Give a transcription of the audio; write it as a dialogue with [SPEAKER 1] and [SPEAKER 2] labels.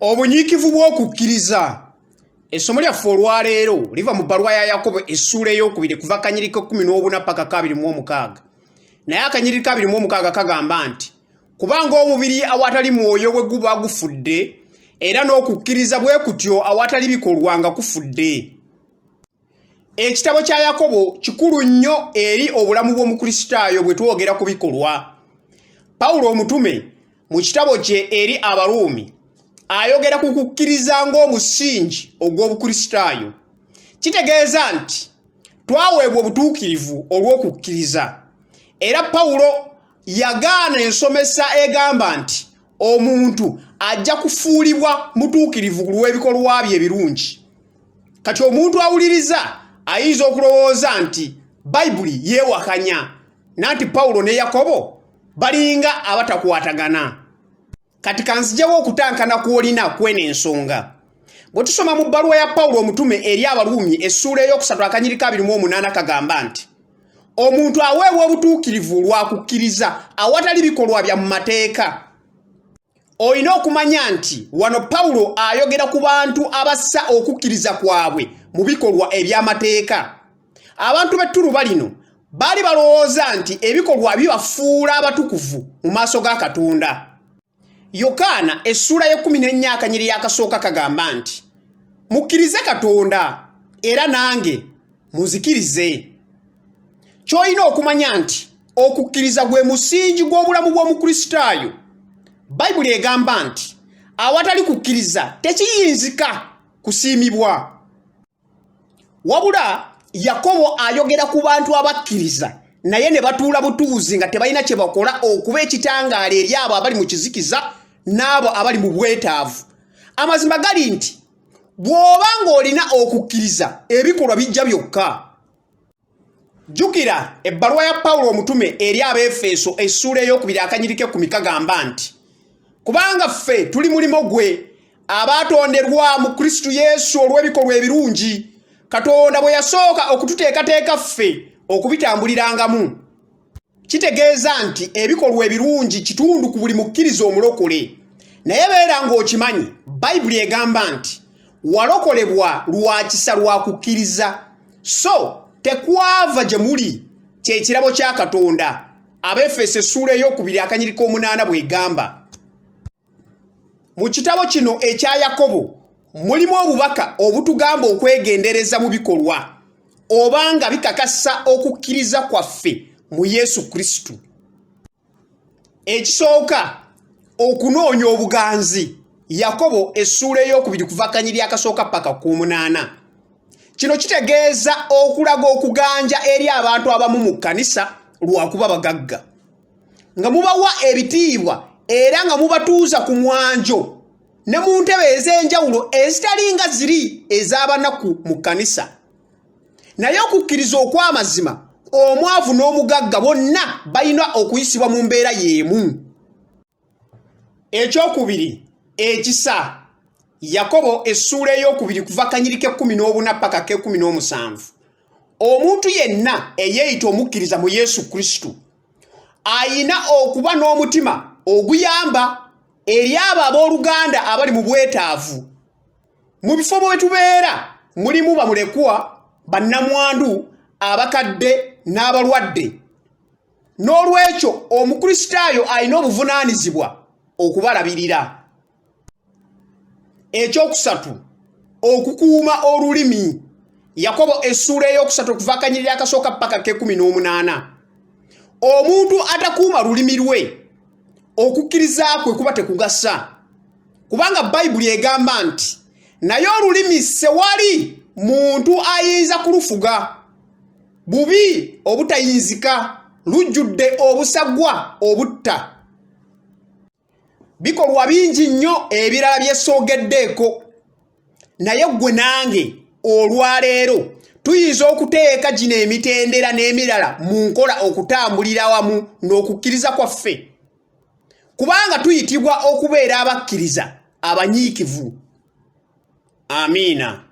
[SPEAKER 1] obunyiikivu bw'okukkiriza essomo lyaffe olwaleero liva mu bbaluwa ya yakobo essuula ey'okubiri kuva kanyiriko kumi n'obuna paka kabiri mu omukaaga naye akanyiriko abiri mu omukaaga kagamba nti kubanga omubiri awatali mwoyo bwe guba gufudde era n'okukkiriza bwe kutyo awatali bikolwa nga kufudde ekitabo kya yakobo kikulu nnyo eri obulamu bw'omukristaayo bwe twogera ku bikolwa pawulo omutume mu kitabo kye eri abaruumi ayogera ku kukkiriza ng'omusingi ogw'obukristaayo kitegeeza nti twaweebwa obutuukirivu olw'okukkiriza era pawulo yagaana ensomesa egamba nti omuntu ajja kufuulibwa mutuukirivu ku lw'ebikolwa bye ebirungi kati omuntu awuliriza ayinza okulowooza nti bayibuli yeewakanya nanti pawulo ne yakobo balinga abatakwatagana kati kanzijawo okutankana kwolina kwena ensonga bwe tusoma mu bbaluwa ya pawulo omutume eri abaluumi essuula ey'okusatu akanyirika abiri mu omunaana kagamba nti omuntu aweebwa obutuukirivu lwa kukkiriza awatali bikolwa bya mu mateeka olina okumanya nti wano pawulo ayogera ku bantu abassa okukkiriza kwabwe mu bikolwa eby'amateeka abantu b'ettuluba lino baali balowooza nti ebikolwa bibafuula abatukuvu mu maaso ga katonda yokaana essuula y'ekkumi n'ennya akanyiri yakasooka kagamba nti mukkirize katonda era nange muzikirize ky'olina okumanya nti okukkiriza gwe musingi gw'obulamu bw'omukristaayo bayibuli egamba nti awatali kukkiriza tekiyinzika kusiimibwa wabula yakobo ayogera ku bantu abakkiriza naye ne batuula butuuzi nga tebalina kye bakola okuba ekitangaala eri abo abali mu kizikiza n'abo abali mu bwetaavu amazima gali nti bw'oba ng'olina okukkiriza ebikolwa bijja byokka jjukira ebbaluwa ya pawulo omutume eri abeefeeso essuula ey'okubiri akanyirike ku mikagamba nti kubanga ffe tuli mulimu gwe abaatonderwa mu kristo yesu olw'ebikolwa ebirungi katonda bwe yasooka okututeekateeka ffe okubitambulirangamu kitegeeza nti ebikolwa ebirungi kitundu ku buli mukkiriza omulokole naye beera ng'okimanyi bayibuli egamba nti walokolebwa lwa kisa lwa kukkiriza so tekwava gye muli kyekirabo kya katonda abefeso essuula ey'okubiri akanyiriko omunaana bw'egamba mu kitabo kino ekya yakobo mulimu obubaka obutugamba okwegendereza mu bikolwa oba nga bikakasa okukkiriza kwaffe mu yesu kristo ekisooka okunoonya obuganzi yakobo essuula ey'okubiri kuvakanyiri akasooka paka ku munaana kino kitegeeza okulaga okuganja eri abantu abamu mu kkanisa lwakuba bagagga nga mubawa ebitiibwa era nga mubatuuza ku mwanjo ne mu ntebe ez'enjawulo ezitalinga ziri ez'abanaku mu kkanisa naye okukkiriza okw'amazima omwavu n'omugagga bonna balina okuyisibwa mu mbeera y'emu ekyokubiri ekisa yakobo essuula eyokubiri kuva kanyiri k'ekkumi n'obuna paka k'ekkumi n'omusanvu omuntu yenna eyeeyita omukkiriza mu yesu kristo ayina okuba n'omutima oguyamba eri abo abooluganda abali mu bwetaavu mu bifo bwe tubeera mulimu bamulekwa bannamwandu abakadde n'abalwadde n'olwekyo omukristaayo alina obuvunaanyizibwa okubalabirira ekyokusatu okukuuma olulimi yakobo essuula ey'okusatu okuva akanyirira akasooka ppaka kekumi n'omunaana omuntu atakuuma lulimi lwe okukkiriza kwe kuba tekugasa kubanga bayibuli egamba nti naye olulimi sewali muntu ayinza kulufuga bubi obutayinzika lujjudde obusagwa obutta bikolwa bingi nnyo ebirala byesoogeddeeko naye ggwe nange olwaleero tuyinza okuteeka gino emitendera n'emirala mu nkola okutambulira wamu n'okukkiriza kwaffe kubanga tuyitibwa okubeera abakkiriza abanyiikivu amiina